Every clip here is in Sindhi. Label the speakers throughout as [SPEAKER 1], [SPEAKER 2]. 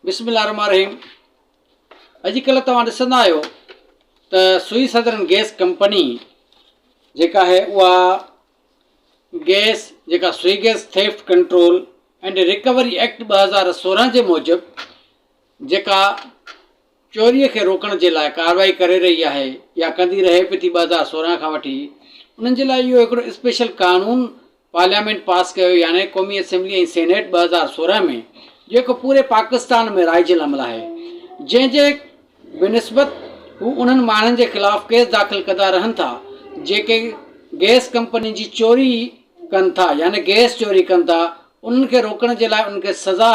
[SPEAKER 1] بسم الله الرحمٰن الرحيم اڄ ڪلهه توهان ڏسندا آهيو ته سوئي سدرن گئس ڪمپني جيڪا آهي اها گئس جيڪا Sui gas theft control and recovery act ٻه هزار سورهن جي موجب جيڪا چوريء کي روڪڻ جي لاء ڪارروائي ڪري رهي آهي يا ڪندي رهي به ٿي ٻه هزار سورهن کان وٺي انهن جي لاء اهو هڪڙو اسپيشل قانون پارليامينٽ پاس ڪيو يعني قومي اسيمبلي ۽ سينيٽ ٻه هزار سورهن ۾ جيڪو پوري پاڪستان ۾ رائج العمل آهي جنهن جي بنسبت هو انهن ماڻهن جي خلاف ڪيس داخل ڪندا رهن ٿا جيڪي گئس ڪمپنين جي چوري ڪن ٿا يعني گئس چوري ڪن ٿا انهن کي روڪڻ جي لاء انهن کي سزا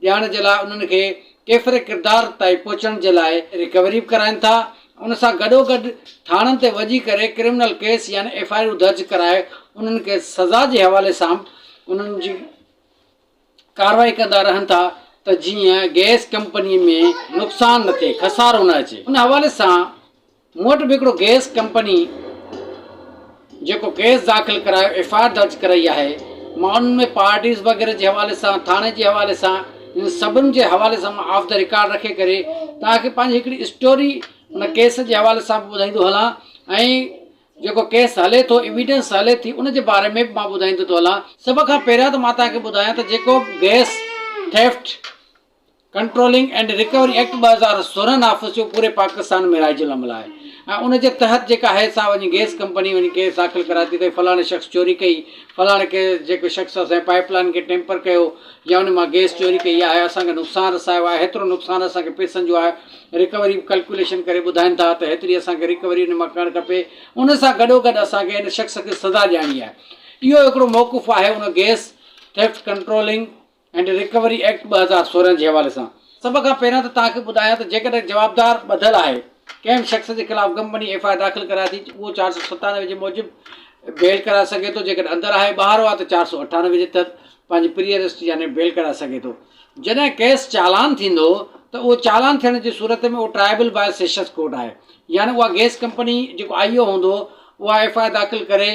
[SPEAKER 1] ڏيارڻ جي لاء انهن کي ڪيفر ڪردار تائين پهچڻ جي لاء ريڪوري به ڪرائين ٿا ان سان گڏوگڏ ٿاڻن تي وڄي ڪري ڪرمنل ڪيس يعني ايف آء آرون درج ڪرائي انهن کي سزا جي حوالي سان به انهن جي ڪارروائي ڪندا رهن ٿا ته جيئن گئس ڪمپني ۾ نقصان نه ٿئي خسارو نه اچي ان حوالي سان مون وٽ به هڪڙو گئس ڪمپني جيڪو ڪيس داخل ڪرايو ايف آء آر درج ڪرائي آهي مان انهن ۾ پارٽيز وغيره جي حوالي سان ٿاڻي جي حوالي سان انهن سڀن جي حوالي سان مان آف دي رڪارڊ رکي ڪري توهان کي پنهنجي هڪڙي اسٽوري ان ڪيس جي حوالي سان به ٻڌائيندو هلان ۽ جيڪو ڪيس هلي ٿو ايويڊنس هلي ٿي ان جي باري ۾ به مان ٻڌائيندو ٿو هلان سڀ کان پهريان ته مان توهان کي ٻڌايان ته جيڪو gas theft controlling and recovery act ٻه هزار سورهن آفيس جو پوري پاڪستان ۾ رائج العمل آهي ۽ ان جي تحت جيڪا هي سا وڃي گيس ڪمپني وڃي ڪيس داخل ڪرائي ٿي ته فلاڻي شخص چوري ڪئي فلاڻي ڪي جيڪو شخص اسانجي پائيپ لائين کي ٽيمپر ڪيو يا ان مان گيس چوري ڪئي آهي اسانکي نقصان رسايو آهي هيترو نقصان اسانکي پئسن جو آهي رڪوري به ڪلڪوليشن ڪري ٻڌائين ٿا ته هيتري اسانکي رڪوري ان مان ڪرڻ کپي ان سان گڏو گڏ اسانکي ان شخص کي سزا ڏياڻي آهي اهو هڪڙو موقف آهي ان gas theft controlling and recovery act ٻه هزار سورهن جي حوالي سان سڀ کان پهريان ته توهان کي ٻڌايان ته جيڪڏهن جوابدار ٻڌل آهي ڪنهن به شخص جي خلاف ڪمپني ايف آء آر داخل ڪرائي ٿي اهو چار سؤ ستانوي جي موجب بيل ڪرائي سگهي ٿو جيڪڏهن اندر آهي ٻاهر آهي ته چار سؤ اٺانوي جي تحت پنهنجي پري اريسٽ يعني بيل ڪرائي سگهي ٿو جڏهن ڪيس چالان ٿيندو ته اهو چالان ٿيڻ جي صورت ۾ اهو ٽرائبل باء سيشنس ڪورٽ آهي يعني اها گيس ڪمپني جيڪو آئي او هوندو اها ايف آء آر داخل ڪري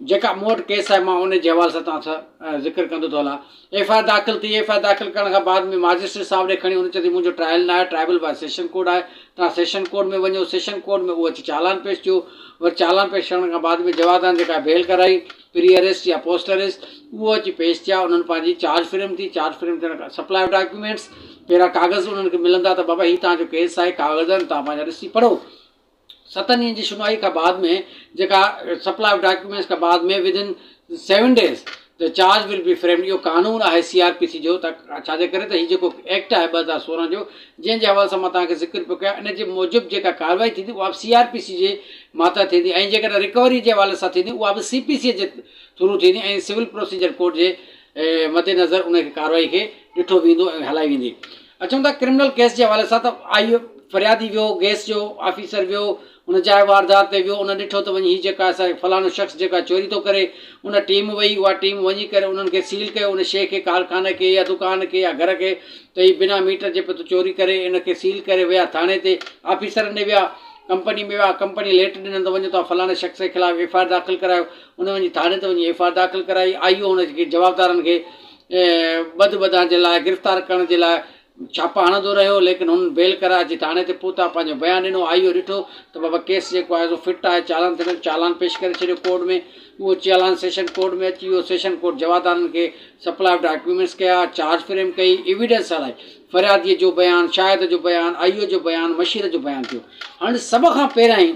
[SPEAKER 1] جيڪا مون وٽ ڪيس آهي مان ان جي حوالي سان توهان سان ذڪر ڪندو ٿو هلان. ايف آء آر داخل ٿي، ايف آء آر داخل ڪرڻ کان بعد ۾ ماجسٽريٽ صاحب ڏي کڻي هن چيو ته منهنجو ٽرائل نه آهي ٽرائبل باء سيشن ڪورٽ آهي توهان سيشن ڪورٽ ۾ وڃو سيشن ڪورٽ ۾ اهو اچي چالان پيش ٿيو وري چالان پيش ڪرڻ کان بعد ۾ جوادان جيڪا بيل ڪرائي پري اريسٽ يا پوسٽ اريسٽ اهو اچي پيش ٿيا انهن پنهنجي چارج فريم ٿي چارج فريم ٿيڻ کان سپلاء آف ڊاڪيومينٽس پهريان ڪاغذ انهن کي ملندا ته بابا هي توهان جو ڪيس آهي ڪاغذ آهن توهان پنهنجا ڏسي پڙهو ستن ڏينهن جي شنوائي کان بعد ۾ جيڪا سپلاء آف ڊاڪيومينٽس کان بعد ۾ ودن سيون ڊيز ته چارج ول بي فريمڊ اهو قانون آهي سي آر پي سي جو ته ڇاجي ڪري ته هي جيڪو ايڪٽ آهي ٻه هزار سورهن جو جنهن جي حوالي سان مان توهان کي ذڪر پيو ڪيان ان جي موجب جيڪا ڪارروائي ٿيندي اها به سي آر پي سي جي ماتحت ٿيندي ۽ جيڪڏهن رڪوري جي حوالي سان ٿيندي اها به سي پي سي جي ٿرو ٿيندي ۽ سول پروسيجر ڪورٽ جي مد نظر ان کي ڪارروائي کي ڏٺو ويندو ۽ هلائي ويندي. اچون ٿا ڪرمنل ڪيس جي حوالي سان ته آئي فريادي ويو گيس جو آفيسر ويو ان جاء واردات تي ويو ان ڏٺو ته وڃي هي جيڪا اسان کي فلاڻو شخص جيڪا چوري ٿو ڪري ان ٽيم وئي اها ٽيم وڃي ڪري انهن کي سيل ڪيو ان شي کي ڪارخاني کي يا دڪان کي يا گهر کي ته هي بنا ميٽر جي پيو ٿو چوري ڪري ان کي سيل ڪري ويا ٿاڻي تي آفيسر ڏي ويا ڪمپني ۾ ويا ڪمپني ليٽر ڏنن ته وڃو تون فلاڻي شخص جي خلاف ايف آء آر داخل ڪرايو هن وڃي ٿاڻي تي وڃي ايف آر داخل ڪرائي، آء او هن کي جوابدارن کي ٻڌ ٻڌڻ جي لاء گرفتار ڪرڻ جي لاء ڇاپا هڻندو رهيو ليڪن هنن بيل ڪرائي اچي ٿاڻي تي پهتا پنهنجو بيان ڏنو آء او ڏٺو ته بابا ڪيس جيڪو آهي سو فٽ آهي چالان ٿيندو چالان پيش ڪري ڇڏيو ڪورٽ ۾ اهو چالان سيشن ڪورٽ ۾ اچي ويو سيشن ڪورٽ جوابدارن کي سپلاء آف ڊاڪيومينٽس ڪيا چارج فريم ڪئي ايويڊنس هلائي فريادي جو بيان شاهد جو بيان آء او جو بيان مشير جو بيان ٿيو هنن سڀ کان پهريائين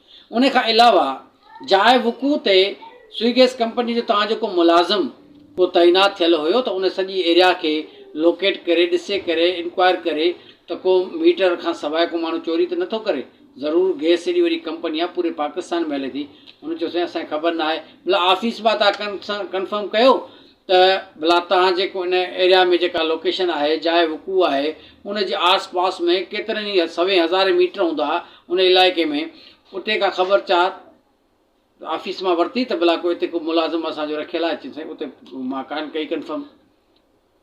[SPEAKER 1] ان کان علاوه جاء وقوع تي سوئي گيس ڪمپني جو توهان جو ڪو ملازم ڪو تعينات ٿيل هيو ته ان سڄي ايريا کي لوڪيٽ ڪري ڏسي ڪري انڪوائر ڪري ته ڪو ميٽر کان سواء ڪو ماڻهو چوري ته نٿو ڪري ضرور گيس ايڏي وڏي ڪمپني آهي پوري پاڪستان ۾ هلي ٿي هن چيو سائين اسان کي خبر ناهي مطلب آفيس مان تان ڪن سان ڪنفرم ڪيو ته ڀلا توهان جيڪو ان ايريا ۾ جيڪا لوڪيشن آهي، جاء وقوع آهي، ان جي آس پاس ۾ ڪيترن ئي سوين هزارين ميٽر هوندا ان علائقي ۾ اتي ڪا خبر چار آفيس مان ورتي ته ڀلا ڪو اتي ڪو ملازم اسان جو رکيل آهي چيو سائين اتي مان ڪانه ڪئي ڪنفرم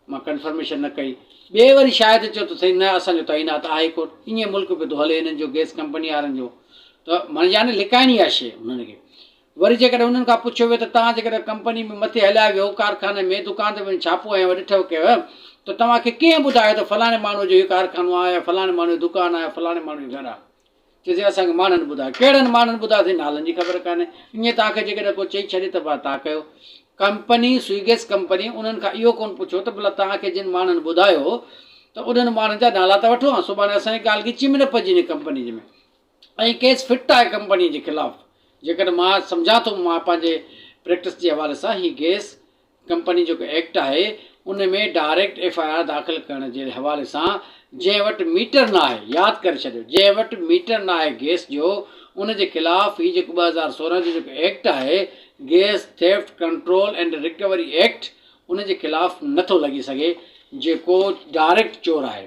[SPEAKER 1] مان ڪنفرميشن نه ڪئي ٻئي وري شايد چيو ته سائين نه اسان جو تعينات آهي ڪوٽ ائين ملڪ پيو ٿو هلي هنن جو گيس ڪمپني وارن جو ته معني لڪائڻي آهي شيء هنن کي وري جيڪڏهن انهن کان پڇيو ويو ته توهان جيڪڏهن ڪمپني ۾ مٿي هليا ويهو، ڪارخاني ۾، دڪان تي وڃي ڇاپو هنيو يا ڏٺو ڪيو ته توهان کي ڪنهن ٻڌايو ته فلاڻي ماڻهوء جو هي ڪارخانو آهي يا فلاڻي ماڻهوء جو دڪان آهي يا فلاڻي ماڻهوء جو گهر آهي؟ چئجي اسان کي ماڻهن ٻڌايو. ڪهڙن ماڻهن ٻڌايو سائين نالن جي خبر ڪانهي. ائين توهان کي جيڪڏهن ڪو چئي ڇڏي ته ڀلا توهان ڪيو. ڪمپني، سوئيگيس ڪمپني، انهن کان اهو ڪونه پڇيو ته ڀلا توهان کي جن ماڻهن ٻڌايو ته انهن ماڻهن جا نالا ته وٺو هان سڀاڻي اسان جي ڳالهه ڳچيء ۾ نه پئجي وڃي ڪمپنيء ۾. ۽ ڪيس فٽ آهي ڪمپني جي خلاف جيڪڏهن مان سمجهان ٿو مان پنهنجي پريڪٽس جي حوالي سان هي گيس ڪمپني جيڪو ايڪٽ آهي ان ۾ ڊائريڪٽ ايف آء آر داخل ڪرڻ جي حوالي سان جنهن وٽ ميٽر نه آهي ياد ڪري ڇڏيو جنهن وٽ ميٽر نه آهي گيس جو ان جي خلاف هي جيڪو ٻه هزار سورهن جو جيڪو ايڪٽ آهي gas theft control and recovery act ان جي خلاف نٿو لڳي سگهي جيڪو ڊائريڪٽ چور آهي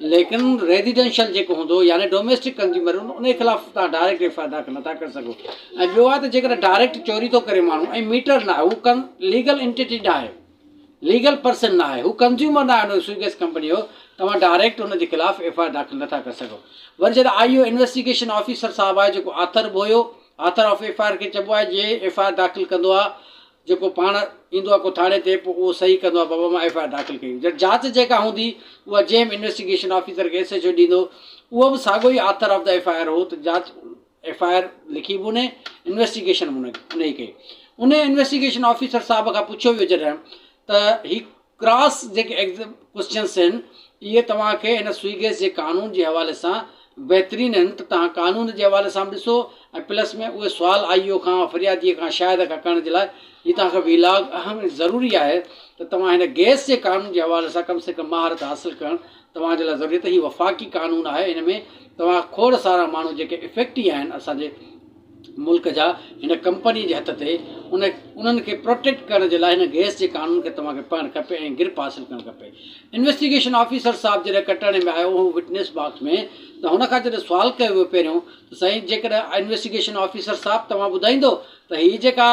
[SPEAKER 1] ليڪن ريزيڊينشل جيڪو هوندو يعني ڊوميسٽڪ ڪنزيومر هوندو انهي خلاف توهان ڊائريڪٽ ايف آء آر داخل نٿا ڪري سگهو ۽ ٻيو آهي ته جيڪڏهن ڊائريڪٽ چوري ٿو ڪري ماڻهو ۽ ميٽر نه آهي هو ڪن ليگل انٽيٽي نه آهي ليگل پرسن نه آهي هو ڪنزيومر نه آهي ان جو سوئي گيس ڪمپني جو توهان ڊائريڪٽ ان جي خلاف ايف آء آر داخل نٿا ڪري سگهو وري جڏهن آئي او انويسٽيگيشن آفيسر صاحب آهي جيڪو آٿر به هيو author of F I R کي چئبو آهي جي ايف آء آر داخل ڪندو آهي جيڪو پاڻ ايندو آهي ڪوٿاڙي تي پوء اهو صحيح ڪندو آهي بابا مان ايف آء آر داخل ڪئي جڏهن جاچ جيڪا هوندي اها جي ايم انويسٽيگيشن آفيسر کي ايس ايڇ او ڏيندو اهو به ساڳو ئي author of the F I R هو ته جاچ ايف آء آر لکي به ان انويسٽيگيشن به ان ان ئي ڪئي ان انويسٽيگيشن آفيسر صاحب کان پڇيو ويو جڏهن ته هي ڪراس جيڪي ايگزم ڪوئسچنس هن اهي توهان کي هن سوئي گيس جي قانون جي حوالي سان بهترين هن ته توهان قانون جي حوالي سان به ڏسو ۽ پلس ۾ اهي سوال آئي او کان فرياديء کان شاهد کان ڪرڻ جي لاء هي توهان کي وي لاگ اهم ۽ ضروري آهي ته توهان هن گيس جي قانون جي حوالي سان ڪم سي ڪم مهارت حاصل ڪرڻ توهان جي لاء ضروري ته هي وفاقي قانون آهي هن ۾ توهان کان کوڙ سارا ماڻهو جيڪي افيڪٽي آهن اسان جي ملڪ جا هن ڪمپني جي هٿ تي ان انهن کي پروٽيڪٽ ڪرڻ جي لاء هن گئس جي قانون کي توهان کي پڙهڻ کپي ۽ گرپ حاصل ڪرڻ کپي انويسٽيگيشن آفيسر صاحب جڏهن ڪٽهڙي ۾ آيو هو وٽنيس باڪس ۾ ته هن کان جڏهن سوال ڪيو ويو پهريون ته سائين جيڪڏهن انويسٽيگيشن آفيسر صاحب توهان ٻڌائيندو ته هي جيڪا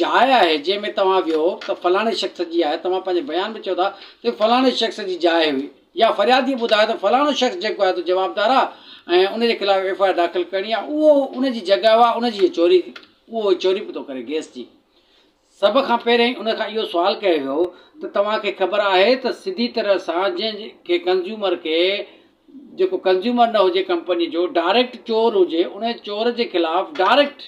[SPEAKER 1] جاء آهي جنهن ۾ توهان ويو ته فلاڻي شخص جي آهي توهان پنهنجي بيان ۾ چئو ٿا ته فلاڻي شخص جي جاء هئي يا فريادي ٻڌائي ته فلاڻو شخص جيڪو آهي تو جوابدار آهي ۽ ان جي خلاف ايف آء آر داخل ڪرڻي آهي اهو ان جي جڳهه آهي ان جي هي چوري اهو هي چوري پيو ٿو ڪري گيس جي سڀ کان پهرين ان کان اهو سوال ڪيو ويو ته توهان کي خبر آهي ته سڌي طرح سان جنهن کي ڪنزيومر کي جيڪو ڪنزيومر نه هجي ڪمپني جو ڊائريڪٽ چور هجي ان چور جي خلاف ڊائريڪٽ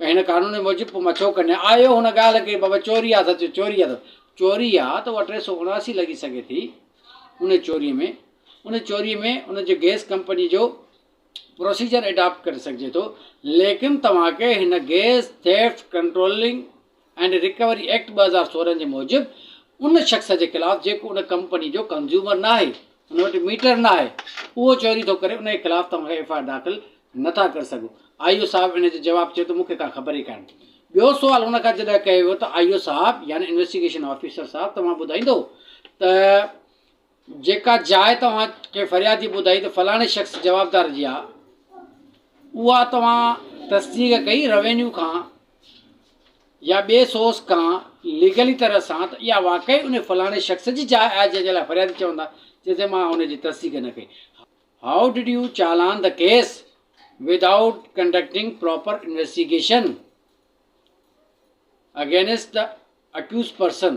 [SPEAKER 1] هن قانون موجب پوء مٿو ڪنهن آيو هن ڳالهه کي بابا چوري آ سچ چوري آ سچ چوري آ ته اها ٽي سؤ اڻاسي لڳي سگهي ٿي ان چوري ۾ ان چوري ۾ ان جي گئس ڪمپني جو پروسيجر اڊاپٽ ڪري سگهجي ٿو ليڪن توهان کي هن gas theft controlling and recovery act ٻه هزار سورهن جي موجب ان شخص جي خلاف جيڪو ان ڪمپني جو ڪنزيومر ناهي، ان وٽ ميٽر ناهي، اهو چوري ٿو ڪري ان جي خلاف توهان ايف آء آر داخل نٿا ڪري سگهو. آء او صاحب ان جو جواب چيو ته مون کي ڪا خبر ئي ڪانهي. ٻيو سوال هن کان جڏهن ڪيو ويو ته آء او صاحب يعني انويسٽيگيشن آفيسر صاحب توهان ٻڌائيندو ته جيڪا جاء توهان ڪنهن فريادي ٻڌائي ته فلاڻي شخص جوابدار جي آهي، اها توهان تصديق ڪئي روينيو کان يا ٻئي سورس کان ليگلي طرح سان ته اها واقعي ان فلاڻي شخص جي جاء آهي جنهن جي لاء فريادي چوندا چي ته مان ان جي تصديق نه ڪئي. How did you challan the case without conducting proper investigation against the accused person.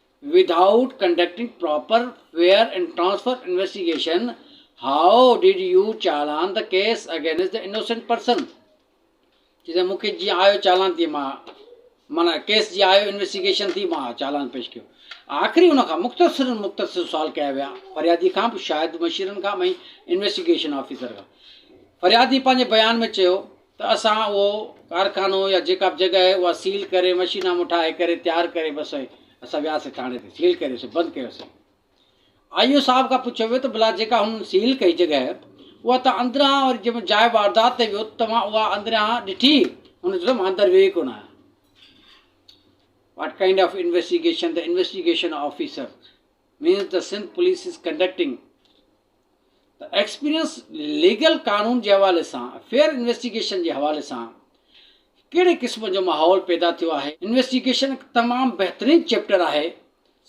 [SPEAKER 1] Without conducting proper fair and transfer investigation how did you challan the case against the innocent person چي تي مون کي جيئن آيو چالان تي مان مانا ڪيس جي آيو انويسٽيگيشن ٿي مان چالان پيش ڪيو آخري ان کان مختصر مختصر سوال ڪيا ويا فريادي کان به شاهد مشيرن کان ۽ انويسٽيگيشن آفيسر کان فريادي پنهنجي بيان ۾ چيو ته اسان اهو ڪارخانو يا جيڪا به جڳهه آهي اها سيل ڪري مشينا مون ٺاهي ڪري تيار ڪري بس سائين اسان وياسي ٿاڻي تي سيل ڪريوسي بند ڪيوسي آئي او صاحب کان پڇيو ويو ته بلا جيڪا هن سيل ڪئي جڳهه اها ته اندران وري جنهن جاء واردات تي ويو توهان اها اندران ڏٺي هن چيو مان اندر ويو ئي ڪونه آهيان واٽ ڪائنڊ آف انويسٽيگيشن ته انويسٽيگيشن آفيسر مينز ته سنڌ پوليس از ڪنڊڪٽنگ ته ايڪسپيرينس ليگل قانون جي حوالي سان فيئر انويسٽيگيشن جي حوالي سان ڪهڙي قسم جو ماحول پيدا ٿيو آهي. انويسٽيگيشن هڪ تمام بهترين چيپٽر آهي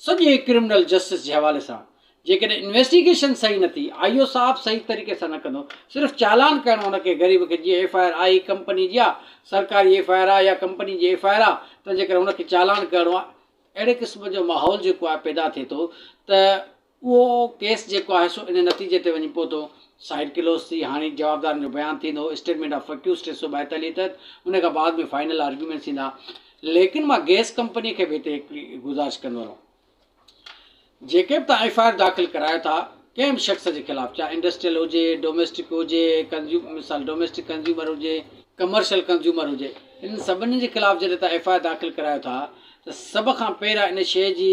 [SPEAKER 1] سڄي ڪرمنل جسٽس جي حوالي سان جيڪڏهن انويسٽيگيشن صحيح نه ٿي آء او صاحب صحيح طريقي سان نه ڪندو صرف چالان ڪرڻو ان کي غريب کي جيئن ايف آء آر آهي ڪمپني جي آ سرڪاري ايف آء آر آ يا ڪمپني جي ايف آء آر آ تنهنجي ڪري ان کي چالان ڪرڻو آ اهڙي قسم جو ماحول جيڪو آهي پيدا ٿئي ٿو ته اهو ڪيس جيڪو آهي سو ان نتيجي تي وڃي پهتو. سائيڊ ڪلوز ٿي، هاڻي جوابدارن جو بيان ٿيندو، اسٽيٽمينٽ آف اڪيوزڊ ٽي سؤ ٻائيتاليهه تحت، ان کان بعد ۾ فائنل آرگيومينٽس ٿيندا. ليڪن مان گيس ڪمپني کي به هتي هڪڙي گذارش ڪندو رهون. جيڪي به توهان ايف آء آر داخل ڪرايو ٿا ڪنهن به شخص جي خلاف چاهي انڊسٽريل هجي، ڊوميسٽڪ هجي، ڪنزيوم مثال ڊوميسٽڪ ڪنزيومر هجي، ڪمرشل ڪنزيومر هجي انهن سڀني جي خلاف جڏهن توهان ايف آء آر داخل ڪرايو ٿا ته سڀ کان پهريان ان شيء جي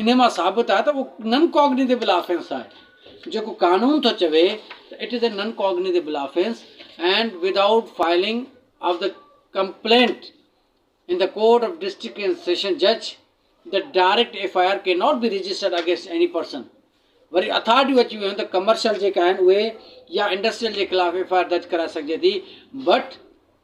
[SPEAKER 1] انهيء مان ثابت آهي ته اهو نن ڪاگنيٽيبل آفينس آهي. جيڪو قانون ٿو چوي ته it is A non cognizable offence and without filing of the complaint in the court of district and sessions جج the direct F I R can not be registered against any person وري اٿارٽيون اچي ويون ته ڪمرشل جيڪا آهن اهي يا انڊسٽريل جي خلاف ايف آئي آر درج ڪرائي سگهجي ٿي بٽ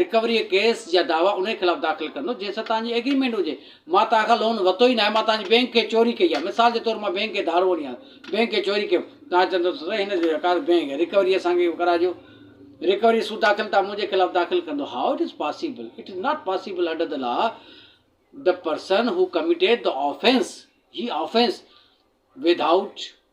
[SPEAKER 1] رڪوريء ڪيس جا دعويٰ انهيء خلاف داخل ڪندو جنهن سان توهان جي ايگريمينٽ هجي. مان توهان کان لون ورتو ئي ناهي. مان توهان جي بينڪ کي چوري ڪئي آهي. مثال جي طور مان بينڪ کي ڌاڙو وڃي آيو. بينڪ کي چوري ڪيم. توهان چوندو ته سائين هن جو رڪارڊ بينڪ رڪوري اسان کي ڪرائجو. رڪوريء سود داخل توهان منهنجي خلاف داخل ڪندو. How it is possible? It is not possible under the law. The person who committed the offence he offence without.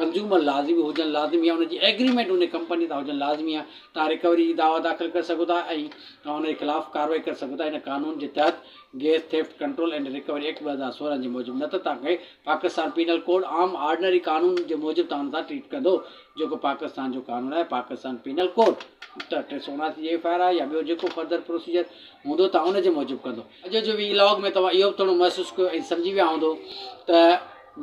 [SPEAKER 1] Consumer لازمي هجڻ لازمي آهي ان جي ايگريمينٽ ان ڪمپني سان هجڻ لازمي آهي تان رڪوري جي دعويٰ داخل ڪري سگهو ٿا ۽ تان ان جي خلاف ڪارروائي ڪري سگهو ٿا ان قانون جي تحت gas theft control and recovery act ٻه هزار سورهن جي موجب نه ته تان کي پاڪستان پينل ڪوڊ عام آرڊنري قانون جي موجب تان سان ٽريٽ ڪندو جيڪو پاڪستان جو قانون آهي پاڪستان پينل ڪوڊ ته ٽي سؤ اناسي جي ايف آء آر آهي يا ٻيو جيڪو فرڌر پروسيجر هوندو تان ان جي موجب ڪندو اڄ جو وي لاگ ۾ توهان اهو به ٿورو محسوس ڪيو ۽ سمجهي ويا هوندو ته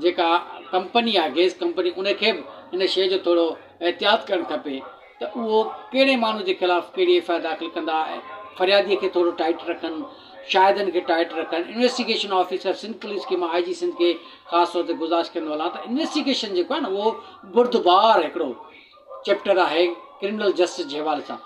[SPEAKER 1] جيڪا ڪمپني آهي گئس ڪمپني ان کي به ان شيء جو ٿورو احتياط ڪرڻ کپي ته اهو ڪهڙي ماڻهو جي خلاف ڪهڙي ايف آء آر داخل ڪندا ۽ فريادي کي ٿورو ٽائيٽ رکن شاهدن کي ٽائيٽ رکن انويسٽيگيشن آفيسر سنڌ پوليس کي آء جي سنڌ کي خاص طور تي گذارش ڪندو هلان ته انويسٽيگيشن جيڪو آهي نه اهو بردبار هڪڙو چيپٽر آهي ڪرمنل جسٽس جي حوالي سان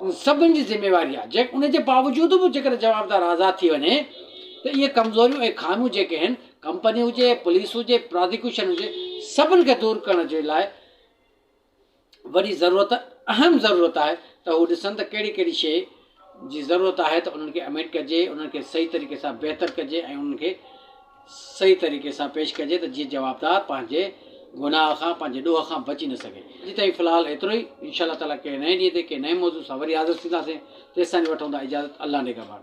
[SPEAKER 1] ان سڀني جي ذميواري آهي جيڪ ان جي باوجود به جيڪڏهن جوابدار آزاد ٿي وڃي ته اهي ڪمزوريون ۽ خاميون جيڪي آهن ڪمپني هجي، پوليس هجي، پرازيڪيوشن هجي سڀني کي دور ڪرڻ جي لاء وڏي ضرورت اهم ضرورت آهي ته هو ڏسن ته ڪهڙي ڪهڙي شيء جي ضرورت آهي ته انهن کي امينڊ ڪجي انهن کي صحيح طريقي سان بهتر ڪجي ۽ انهن کي صحيح طريقي سان پيش ڪجي ته جيئن جوابدار پنهنجي گناهه کان پنهنجي ڏوهه کان بچي نه سگهي. اڄ تائين في الحال ايترو ئي ان شاء الله تعالٰي ڪنهن نئين ڏينهن تي ڪنهن نئين موضوع سان وري حاضر ٿينداسين تيستائين وٺون ٿا اجازت الله نگهبان.